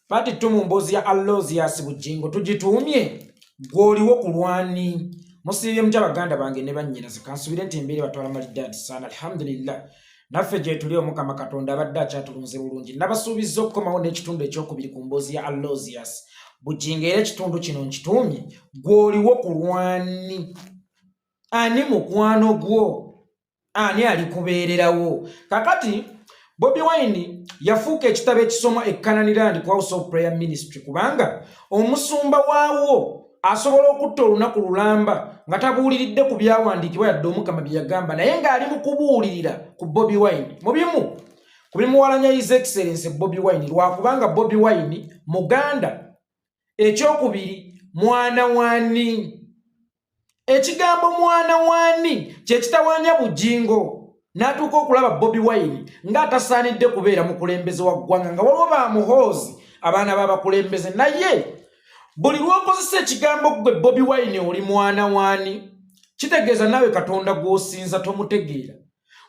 Pati tu mu mboozi ya Alozius Bujingo tugituumye gw'oliwo ku lwani musiibye mutya baganda bange ne bannyinaze kansubire nti embeera batwala malidaadi saana alhamdulillah naffe gyetuli omukama katonda abadde akyatulunze bulungi nabasuubiza okukomawo n'ekitundu ekyokubiri ku mboozi ya Alozius Bujingo era ekitundu kino nkituumye gw'oliwo ku lwani ani mukwano gwo ani ali kubeererawo kakati bobi wine yafuuka ekitabo ekisoma ekananirand ku house of prayer ministry kubanga omusumba waawo asobola okutta olunaku lulamba nga tabuuliridde ku byawandiikibwa yadde omukama bye yagamba naye ng'ali mu kubuulirira ku bobi wine mu bimu ku bimuwalanya his excellence bobi wine lwakubanga bobi wine muganda ekyokubiri mwana wani ekigambo mwana wani kyekitawanya bujingo natuuka okulaba bobi wine nga atasaanidde kubeera mukulembeze wa ggwanga nga waliwo ba muhoozi abaana babakulembeze naye buli lwokozesa ekigambo ggwe bobi wine oli mwana wani kitegeeza naawe katonda gwosinza tomutegeera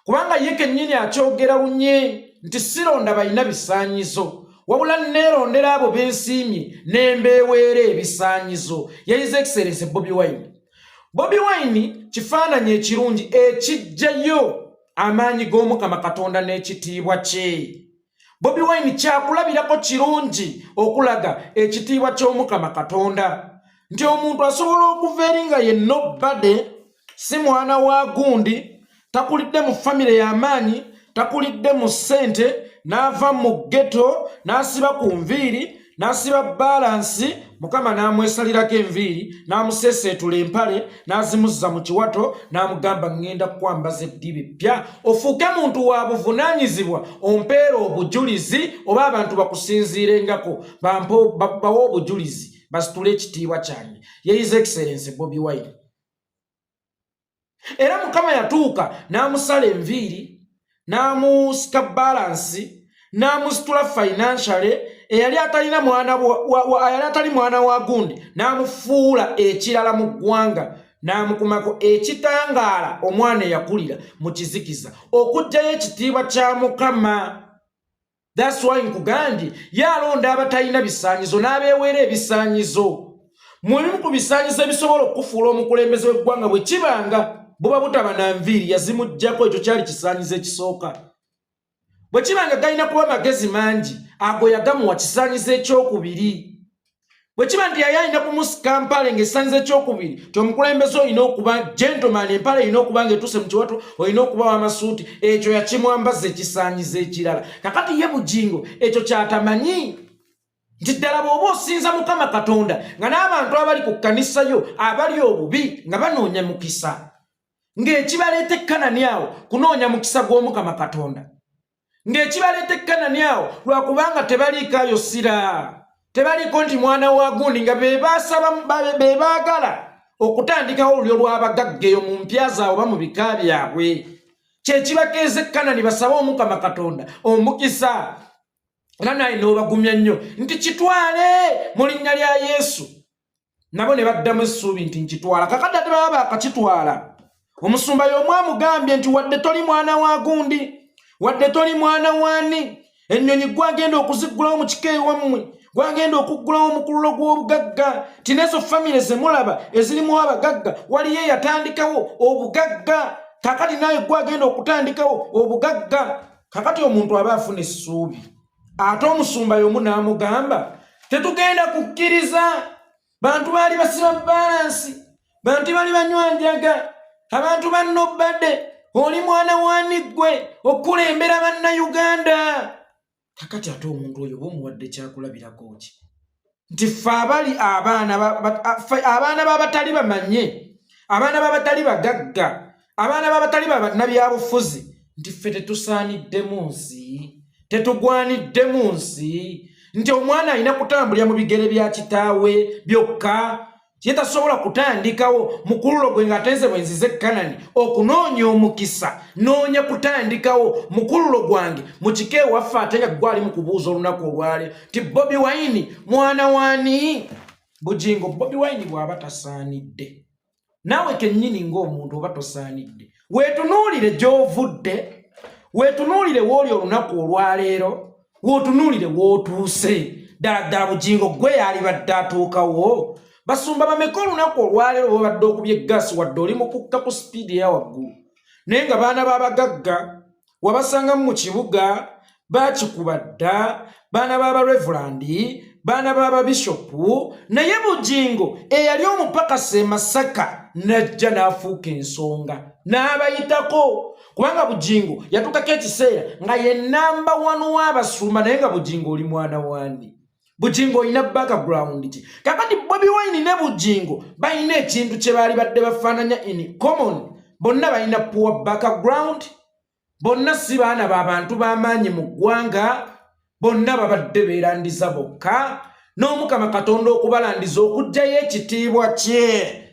kubanga ye kennyini akyogera lunye nti sironda balina bisaanyizo wabula neerondera abo bensiimye nembeeweera ebisaanyizo yayize ekiseereze bobi wine bobi wine kifaananyi ekirungi ekijjayo amaanyi g'omukama katonda n'ekitiibwa kye bobi wine kyakulabirako kirungi okulaga ekitiibwa ky'omukama katonda nti omuntu asobola okuva eri nga ye nobade si mwana wa gundi takulidde mu famire y'amaanyi takulidde mu ssente n'ava mu ggeto n'asiba ku nviiri n'asiba baalansi mukama n'amwesalirako enviiri n'amuseeseetula empale n'azimuzza mu kiwato n'amugamba ŋŋenda kukwambaza eddiba eppya ofuuke muntu wa buvunaanyizibwa ompeera obujulizi oba abantu bakusinziirengako bawe obujulizi basitule ekitiibwa kyange yeyiza ekiserense bobi wine era mukama yatuuka n'amusala enviiri n'amusika balansi n'amusitula financiale eyali atalina mwana yali atali mwana wa gundi n'amufuula ekirala mu ggwanga n'amukumako ekitangaala omwana eyakulira mu kizikiza okugjayo ekitiibwa kya mukama That's why nkugambye yalonda abatalina bisaanyizo n'abeeweera ebisaanyizo mu bimu ku bisaanyizo ebisobola okukufuula omukulembeze w'eggwanga bwe kibanga buba butaba na nviiri yazimuggyako ekyo kyali kisaanyizo ekisooka bwe kibanga galina kuba magezi mangi ago yagamuwa kisaanyizo ekyokubiri bwe kiba nti yali alina kumusika mpale ng'esanza ekyokubiri ti omukulembeze olina okuba gentleman empale erina okuba ng'etuuse mu kiwato olina okuba w'amasuuti ekyo yakimwambaza ekisaanyiza ekirala kakati ye bugingo ekyo kyatamanyi nti ddala bw'oba osinza mukama katonda nga n'abantu abali ku kkanisa yo abali obubi nga banoonya mukisa ng'ekibaleeta ekkanani awo kunoonya mukisa gw'omukama katonda ng'ekibaleeta ekkanani awo lwakubanga tebaliikaayo sira tebaliiko nti mwana wa gundi nga be baagala okutandikawo olulyo lw'abagagga eyo mu mpya zaabwe oba mu bika byabwe kyekibakeeza ekkanani basabe omukama katonda omukisa era naye n'obagumya nnyo nti kitwale mu linnya lya yesu nabo ne baddamu essuubi nti nkitwala kakadde ate baba bakakitwala omusumba y'omu amugambye nti wadde toli mwana wa gundi wadde toli mwana wani ennyonyi gwagenda okuziggulawo mu kika ewammwe gwagenda okuggulawo omukululo gw'obugagga ti nezo famire zemulaba ezirimu abagagga waliyo eyatandikawo obugagga kakati naye gwagenda okutandikawo obugagga kakati omuntu aba afuna essuubi ate omusumba y'omu n'amugamba tetugenda kukkiriza bantu baali basiba balansi bantu bali banywa njaga abantu bannobadde oli mwana wani ggwe okukulembera bannayuganda kakati ate omuntu oyo oba omuwadde kyakulabirako ki nti ffe abali abaana abaana babatali bamanye abaana babatali bagagga abaana babatali babanabyabufuzi nti ffe tetusaaniddemu nsi tetugwaniddemu nsi nti omwana alina kutambulira mu bigere bya kitaawe byokka ye tasobola kutandikawo mukululo gwe ng'atenze bwe nzize kanani okunoonya omukisa noonya kutandikawo mukululo gwange mu kika ewaffe ate nga gwali mu kubuuza olunaku olwali nti bobi wayini mwana wani bugingo bobi wayini bw'aba tasaanidde naawe kennyini ng'omuntu oba tosaanidde weetunuulire gy'ovudde weetunuulire wooli olunaku olwaleero weotunuulire wootuuse ddala ddala bugingo gwe yaalibadde atuukawo basumba bameka olunaku olwaleero bwebabadde okubye gaasi wadde oli mukukka ku sipiidi eya waggulu naye nga baana b'abagagga wabasanga mu kibuga bakikuba dda baana b'abarevulandi baana b'ababishopu naye bugingo eyali omupakasi e masaka n'ajja n'afuuka ensonga n'abayitako kubanga bugingo yatuukako ekiseera nga ye namba wanu w'abasumba naye nga bugingo oli mwana wandi bujingo olina background ki kakati bobi wine ne bujingo balina ekintu kye baali badde bafaananya in common bonna balina poor background bonna si baana ba bantu b'amaanyi mu ggwanga bonna babadde beerandiza bokka n'omukama katonda okubalandiza okugjayo ekitiibwa kye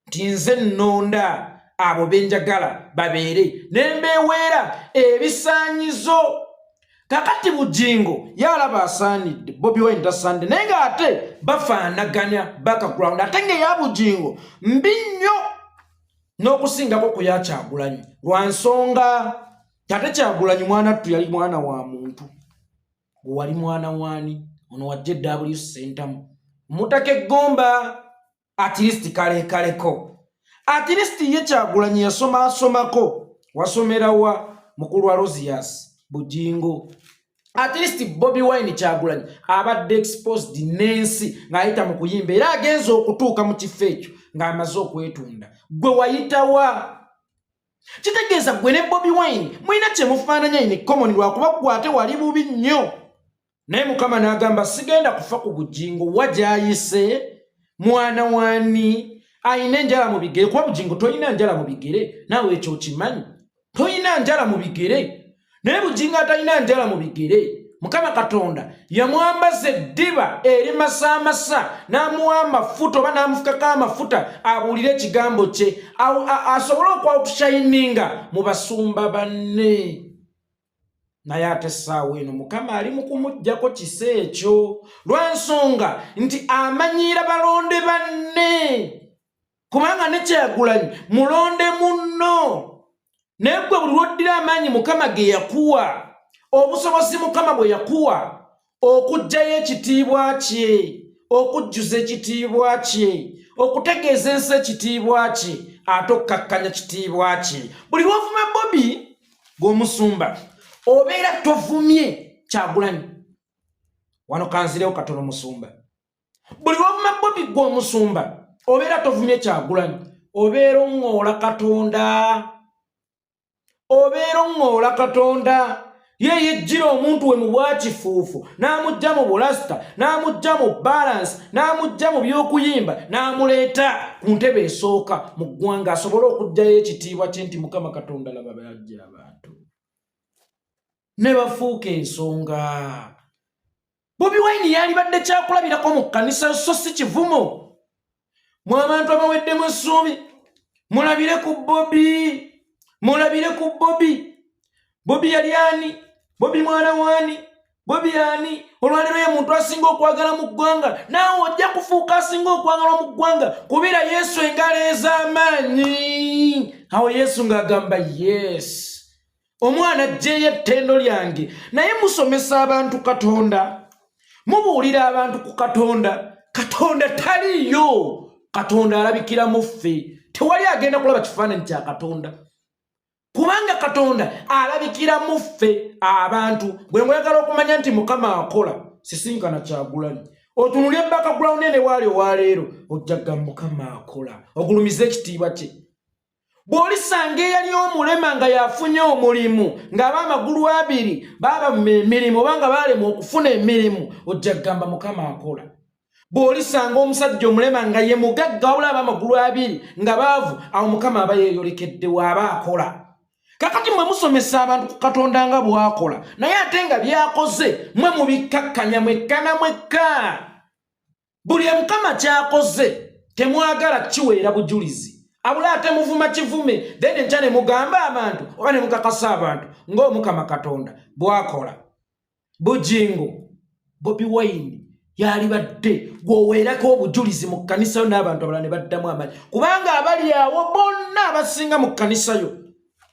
nti nze nnonda abo be njagala babeere ne mbeweera ebisaanyizo kakati bugingo yalaba asaanidde bobi wine tasaanidde naye ng'ate bafaanaganya background ate ng'eya bugingo mbi nnyo n'okusingako ku yakyagulanyi lwa nsonga ate kyagulanyi mwana ttu yali mwana wa muntu wali mwana wani ono wajja eddaabuli sentamu mutaka eggomba at least kalekaleko at least ye kyagulanyi yasoma asomako wasomera wa mukulu wa rosias bujingo at least bobi wine kyagulanyi abadde exposed nensi ng'ayita mu kuyimba era agenza okutuuka mu kifo ekyo ng'amaze okwetunda gwe wayitawa kitegeeza gwe ne bobi wine mulina kyemufaananya ini common lwakuba gwate wali bubi nnyo naye mukama n'agamba sigenda kufa ku bugingo wa gyayise mwana wani ayina enjala mu bigere kuba bugingo tolina njala mu bigere naawe ekyo okimanyi tolina njala mu bigere naye bugingo atalina njala mu bigere mukama katonda yamwambaza eddiba eri masaamasa n'amuwa amafuta oba n'amufukako amafuta abuulire ekigambo kye asobole okwawutushayininga mu basumba banne naye ate essaawa eno mukama ali mu kumuggyako kisa ekyo lwensonga nti amanyiira balonde banne kubanga nekyagulanyi mulonde munno naye gwe buli lwoddira amaanyi mukama ge yakuwa obusobozi mukama bwe yakuwa okuggyayo ekitiibwa kye okujjuza ekitiibwa kye okutegeeza ensi ekitiibwa kye ate okukkakkanya kitiibwa kye buli lwovuma bobi gwomusumba obeera tovumye kyagulanyi wano kanzirewo katono musumba buli lwovuma bobi gwomusumba obeera tovumye kyagulanyi obeera oŋoola katonda obeera oŋŋoola katonda ye yejjira omuntu we mu bwakifuufu n'amujja mu bulasita n'amujja mu balansi n'amujja mu by'okuyimba n'amuleeta ku ntebe esooka mu ggwanga asobole okugjayo ekitiibwa kye nti mukama katonda laba bajja abantu ne bafuuka ensonga bobi wine yalibadde kyakulabirako mu kkanisa so si kivumo mu abantu abaweddemu essuubi mulabire ku bobi mulabire ku bobi bobi yali ani bobi mwana waani bobi ani olwaliro ye muntu asinga okwagala mu ggwanga naawe ojja kufuuka asinga okwagalwa mu ggwanga kubira yesu engalo ez'amaanyi awo yesu ng'agamba yesi omwana ajjeeyo ettendo lyange naye musomesa abantu katonda mubuulira abantu ku katonda katonda taliiyo katonda alabikira mu ffe tewali agenda kulaba kifaananyi kya katonda kubanga katonda alabikira mu ffe abantu bwe mwagala okumanya nti mukama akola sisinkana kyagulanyi otunulya embaka gulawunene waali owaleero ojjaga mukama akola ogulumiza ekitiibwa kye bw'olisanga eyali omulema nga yafunye omulimu ng'aba amagulu abiri baaba mu emirimu oba nga baalemwa okufuna emirimu ojja kugamba mukama akola bw'olisanga omusajja omulema nga ye mugagga wabula aba amagulu abiri nga baavu awo mukama aba yeeyolekeddewo aba akola kakati mwe musomesa abantu ku katonda nga bw'akola naye ate nga byakoze mwe mubikkakkanya mwekkana mwekka buli emukama kyakoze temwagala kiweera bujulizi abula ate muvuma kivume then enkya ne mugamba abantu oba ne mukakasa abantu ng'omukama katonda bwakola bujingo bobi wayini yalibadde gweoweerako obujulizi mu kkanisayo n'abantu abalala ne baddamu amanyi kubanga abali awo bonna abasinga mu kkanisayo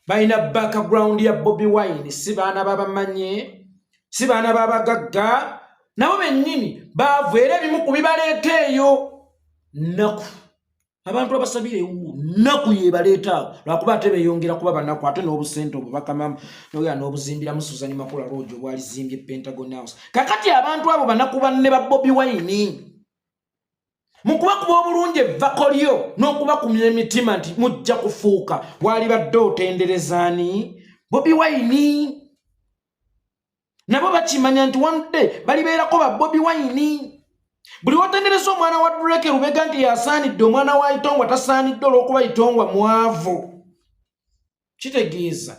balina background ya bobi wine si baana babamanye si baana babagagga nabo bennyini baavu era ebimu ku bibaleeta eyo nnaku abantu abasabira ewuwo nnaku yebaleeta awo lwakuba ate beyongera kuba banaku ate n'obusente obwo bakamamu noya n'obuzimbiramu suzani makula loogi obwalizimbye pentagon house kakati abantu abo banaku banne ba bobi wine mukuba kuba obulungi evvako lyo n'okuba kumya emitima nti mujja kufuuka waalibadde otenderezaani bobi wayini nabo bakimanya nti wanudde balibeerako ba bobi wayini buli watendereza omwana wa dureke lubega nti yasaanidde omwana wa itongwa tasaanidde olw'okuba itongwa mwavu kitegeeza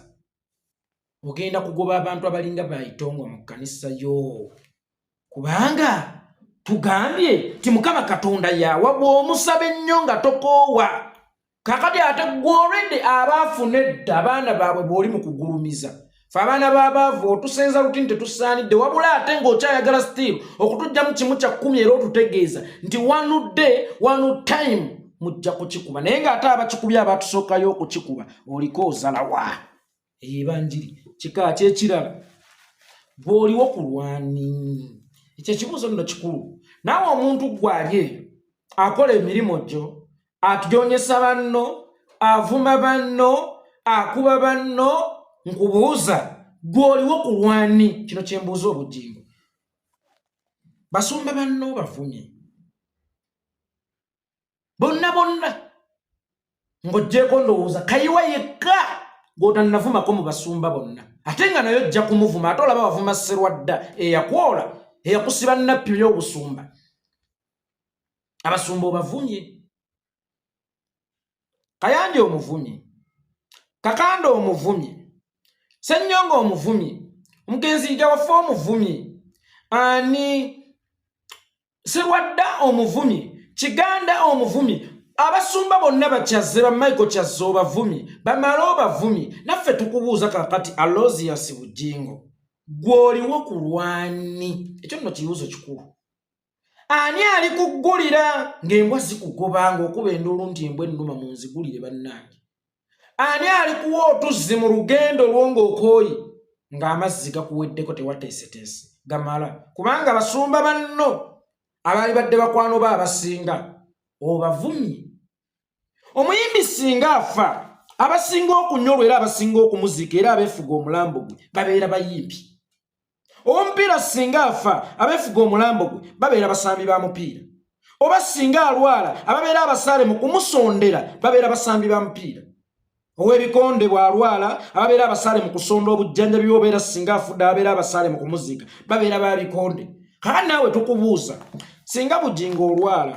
ogenda kugoba abantu abalinga ba itongwa mu kkanisa yoo kubanga tugambye ti mukama katonda yawa bwomusaba ennyo nga tokoowa kakati ate gwolwedde abaafuna edda abaana baabwe bwoli mu kugulumiza fe abaana babaavu otusenza luti nti tetusaanidde wabula ate ng'okyayagala still okutujjamu kimu kya kkumi era otutegeeza nti one day one time mujja kukikuba naye ng'ate abakikubye abatusookayo okukikuba oliko ozalawa eyo ebanjiri kika kyekirala gwoliwo ku lwani ekyo ekibuuzo nno kikulu naawe omuntu gwali eyo akola emirimu gyo atujonyesa banno avuma banno akuba banno nkubuuza gwoliwo ku lwani kino kyembuuza obujingo basumba banno bavumye bonna bonna ng'ogyeko ndowooza kayiwa yekka gw'otannavumako mu basumba bonna ate nga naye ojja kumuvuma ate olaba wavuma serwadda eyakwola eyakusiba nnappi ey'obusumba abasumba obavumye kayanja omuvumye kakanda omuvumye sennyonga omuvumye omugenzi ija waffe omuvumye ani sirwadda omuvumi kiganda omuvumi abasumba bonna bakyazze ba michael kyazze obavumi bamale obavumi naffe tukubuuza kakati alosiasi bujingo gw'oliwo ku lwani ekyo nno kibuuzo kikulu ani ali kuggulira ng'embwa zikugoba ng'okuba enduulu nti embwa ennuma mu nzigulire bannange ani alikuwa otuzzi mu lugendo olwo ng'okooyi ng'amazzi gakuweddeko tewateeseteese gamala kubanga basumba banno abaali badde bakwano ba abasinga obavumye omuyimbi singa afa abasinga okunyolwa era abasinga okumuziika era abeefuga omulambo gwe babeera bayimbi omupiira singa afa abefuga omulambo gwe babeera basambi ba mupiira oba singa alwala ababeera abasaale mu kumusondera babeera basambi ba mupiira owebikonde bwalwala ababeera abasaale mu kusonda obujjanjabi obeera singa afudde ababeera abasaale mu kumuziika babeera ba bikonde kaa naawe tukubuuza singa bujinga olwala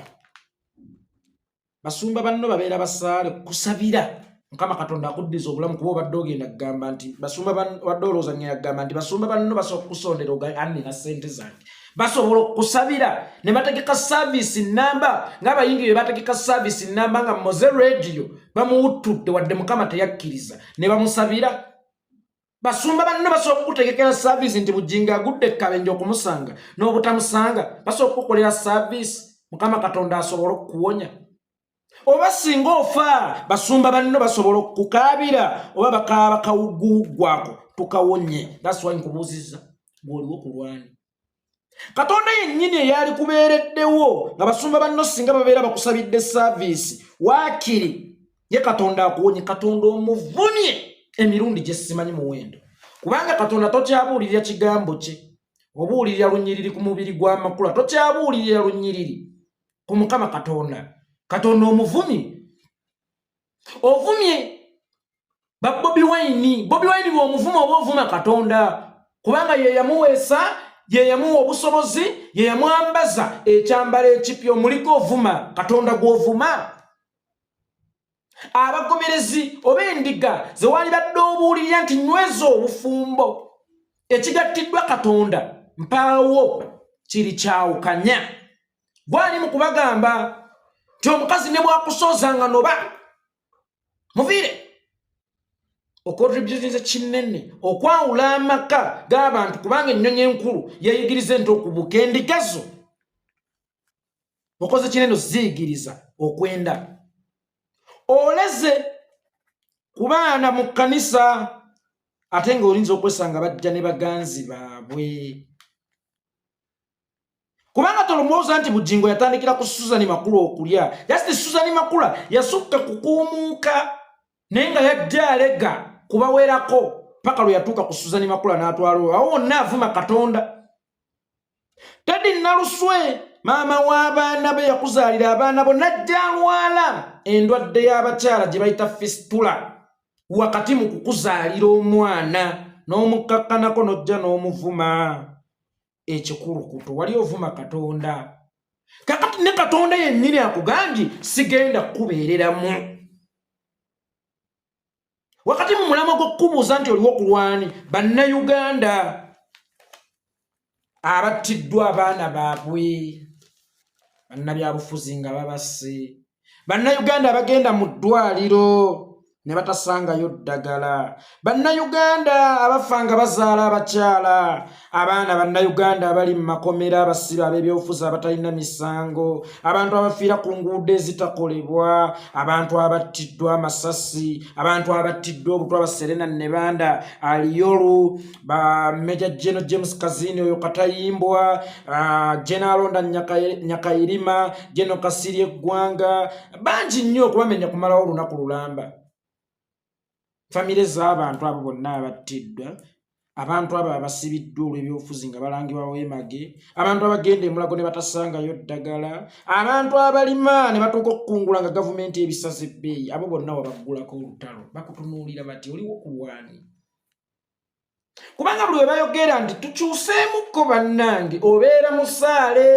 basumba banno babeera basaale kusabira mukama katonda akuddiza obulamu kuba obadde ogenda kugamba nti basumba wadde olowozanya yagamba nti basumba banno basobola okukusondera oganina sente zange basobola okusabira ne bategeka saavisi namba ngaabayingi be bategeka saavisi namba nga moze rediyo bamuwuttudde wadde mukama teyakkiriza ne bamusabira basumba banne basobola okukutegekera saaviisi nti bujinga agudde ekkabenja okumusanga n'obutamusanga basobola okukukolera saaviisi mukama katonda asobole okukuwonya oba singa ofa basumba banno basobola okukaabira oba bakaaba kawugguwuggwako tukawonye that's why nkubuuzizza gwoliwo ku lwani katonda yennyini eyaali kubeereddewo nga basumba banno singa babeera bakusabidde saaviisi waakiri ye katonda akuwonye katonda omuvumye emirundi gye simanyi muwendo kubanga katonda tokyabuulirira kigambo kye obuulirira lunyiriri ku mubiri gw'amakula tokyabuulirira lunyiriri ku mukama katonda katonda omuvumi ovumye ba bobi wayini bobi wayini bwomuvuma oba ovuma katonda kubanga yeyamuweesa yeyamuwa obusobozi yeyamwambaza ekyambala ekipya omuliko ovuma katonda gwovuma abagomerezi oba endiga zewaali badde obuulirira nti nyweza obufumbo ekigattiddwa katonda mpaawo kiri kyawukanya gwali mu kubagamba nti omukazi ne bwakusooza nga noba muviire okotributinze kinene okwawula amaka g'abantu kubanga ennyonyi enkulu yeyigiriza ente okubuka endigazo okoze kinene oziyigiriza okwenda oleze ku baana mu kkanisa ate nga olinza okwesanga bajja ne baganzi baabwe kubanga tolumwoza nti bujingo yatandikira ku suzani makula okulya just suzani makula yasukka kukuumuuka naye nga yajja alega kubawerako paka lwe yatuuka ku suzani makula n'atwala oyo awo wonna avuma katonda tedi naluswe maama w'abaana be yakuzaalira abaana bo najja alwala endwadde y'abakyala gye bayita fistula wakati mu kukuzaalira omwana n'omukakkanako n'ojja n'omuvuma ekikulukuto wali ovuma katonda kakati ne katonda yennyini akugambye sigenda kukubeereramu wakati mu mulama gw'okukubuuza nti oliwo kulwani bannayuganda abattiddwa abaana baabwe bannabyabufuzi nga babase bannayuganda abagenda mu ddwaliro ne batasangayo ddagala bannayuganda abafa nga bazaala abakyala abaana bannayuganda abali mu makomera abasibe ab'ebyobufuzi abatalina misango abantu abafiira ku nguudo ezitakolebwa abantu abattiddwa amasasi abantu abattiddwa obutwa baserena nebanda aliyolu ba meja jeno james kazini oyo katayimbwa uh, jenalonda nyakayirima jeno kasiri eggwanga bangi nnyo okubamenya kumalawo olunaku lulamba famire z'abantu abo bonna abattiddwa abantu abo abasibiddwa olw'ebyobufuzi nga balangibwa weemage abantu abagenda emulago ne batasangayo ddagala abantu abalima ne batuuka okukungula nga gavumenti ebisaza ebbeeyi abo bonna wabaggulako olutalo bakutunuulira bati oliwo kulwani kubanga buli webayogera nti tukyuseemukko bannange obeera musaale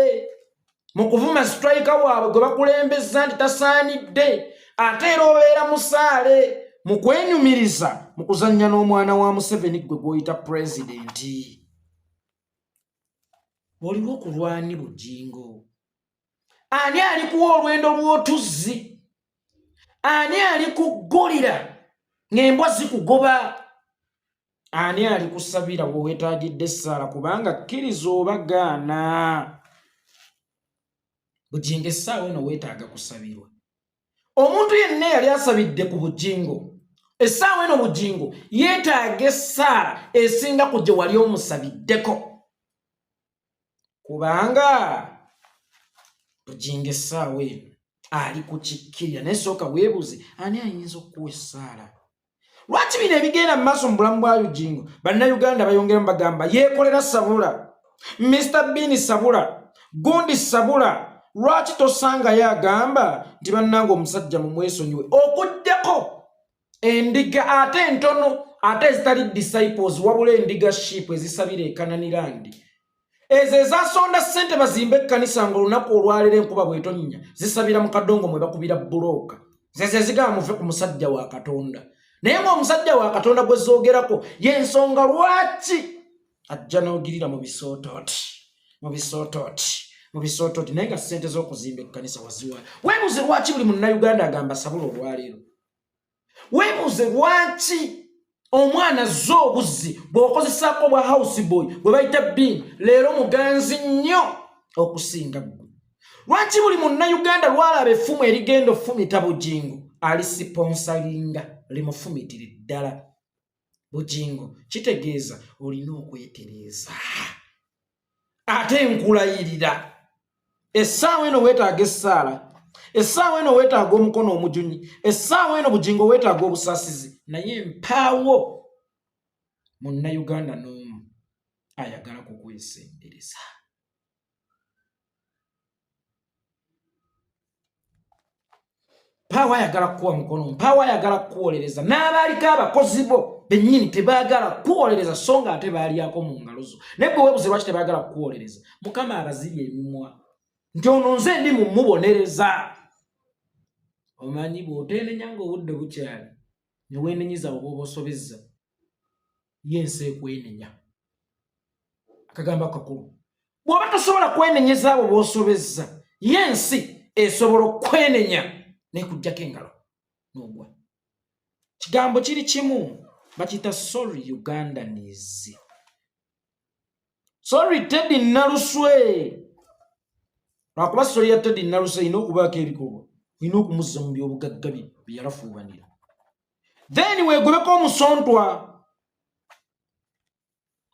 mu kuvuma sitrayika waabwe gwe bakulembeza nti tasaanidde ate era obeera musaale mu kwenyumiriza mu kuzannya n'omwana wa museveni gwe gwoyita pulezidenti oliwo kulwani bujingo ani alikuwa olwendo lw'otuzzi ani alikuggulira ng'embwa zikugoba ani alikusabira wewetagidde essaala kubanga kkiriza oba gaana bujingo essaawa eno weetaaga kusabirwa omuntu yenna yali asabidde ku bujingo essaawa eno bujingo yeetaaga essaala esinga ku gye wali omusabiddeko kubanga bujinga essaawa eno ali ku kikkirira naye sooka weebuuze ani ayinza okukuwa essaala lwaki bino ebigenda mu maaso mu bulamu bwa ujingo bannayuganda bayongeramu bagamba yeekolera sabula mr bini sabula gundi sabula lwaki tosangayo agamba nti bannanga omusajja mumwesonyiwe okuddeko endiga ate entono ate ezitali disciples wabula endiga ship ezisabira ekananirandi ezo ezasonda sente bazimba ekkanisa nga olunaku olwalera enkuba bwetonnya zisabira mu kadongo mwe bakubira bulooka zezo ezigaba muve ku musajja wa katonda naye ngaomusajja wa katonda gwe zoogerako yensonga lwaki ajja n'ogirira mu bisootooti mu bisootooti mu bisootooti naye nga sente z'okuzimba ekkanisa waziwa webuze lwaki buli munnauganda agamba sabula olwaleero weebuuze lwaki omwana zza obuzzi bw'okozesaako bwa house boy bwe bayita bin leero muganzi nnyo okusinga ggwe lwaki buli munnayuganda lwalaba effumu erigenda ofumita bugingo alisiponsalinga limufumitire ddala bugingo kitegeeza olina okwetereeza ate nkulayirira essaawa eno weetaaga essaala essaawa eno weetaaga omukono omujunyi essaawa eno bugingo weetaaga obusaasizi naye mpaawo munnayuganda n'omu ayagala kukwesembereza mpaawo ayagala kukuwa mukono mpaawo ayagala kukuwolereza n'abaaliko abakozi bo bennyini tebaagala kukuwolereza so nga ate baalyako mu ngalo zo naye bwe webuze lwaki tebaagala kukuwolereza mukama abazibye emimwa nti ono nze ndi mu mubonereza omanyi bw'oteenenya ng'obudde bukyali ne weenenyiza oba obosobezza ye ensi ekwenenya akagamba kakulu bwoba tosobola kwenenyeza abo bosobezza ye ensi esobola okwenenya nekujjako engalo nogwa kigambo kiri kimu bakiyita sorry ugandanis sorry tedi naluswe lwakuba sori ya tedi naluswe ina okubaako ebikolwa ina okumuzza mu byobugagga byeyalafuubanira then wegobeko omusontwa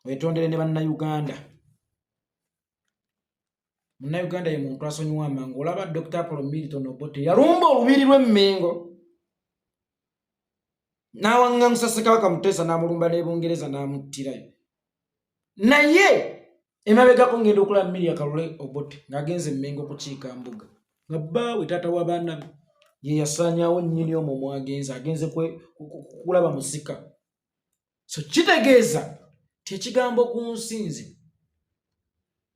wetondere ne bannayuganda munnauganda ye muntu asonyiwa amangu olaba dr apolo milton obote yalumba olubiri lw'emmengo n'awaŋŋaŋusa ssekabaka muteesa n'amulumba ne bungereza n'amuttirayo naye emabegako ngenda okulaba miria kalule obote ng'agenza emmengo kukiika mbuga nga bbaawe taata wa baana be ye yasaanyawo nnyini omwo mwagenza agenze kulaba musika so kitegeeza ti ekigambo ku nsi nze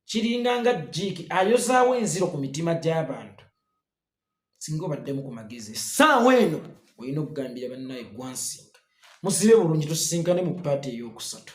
kiringa nga jiiki ayozaawo enziro ku mitima gy'abantu singa obaddemu ku magezi essaawa eno olina okugambira bannaye gwansinga musibe bulungi tusisinkane mu paati ey'okusatu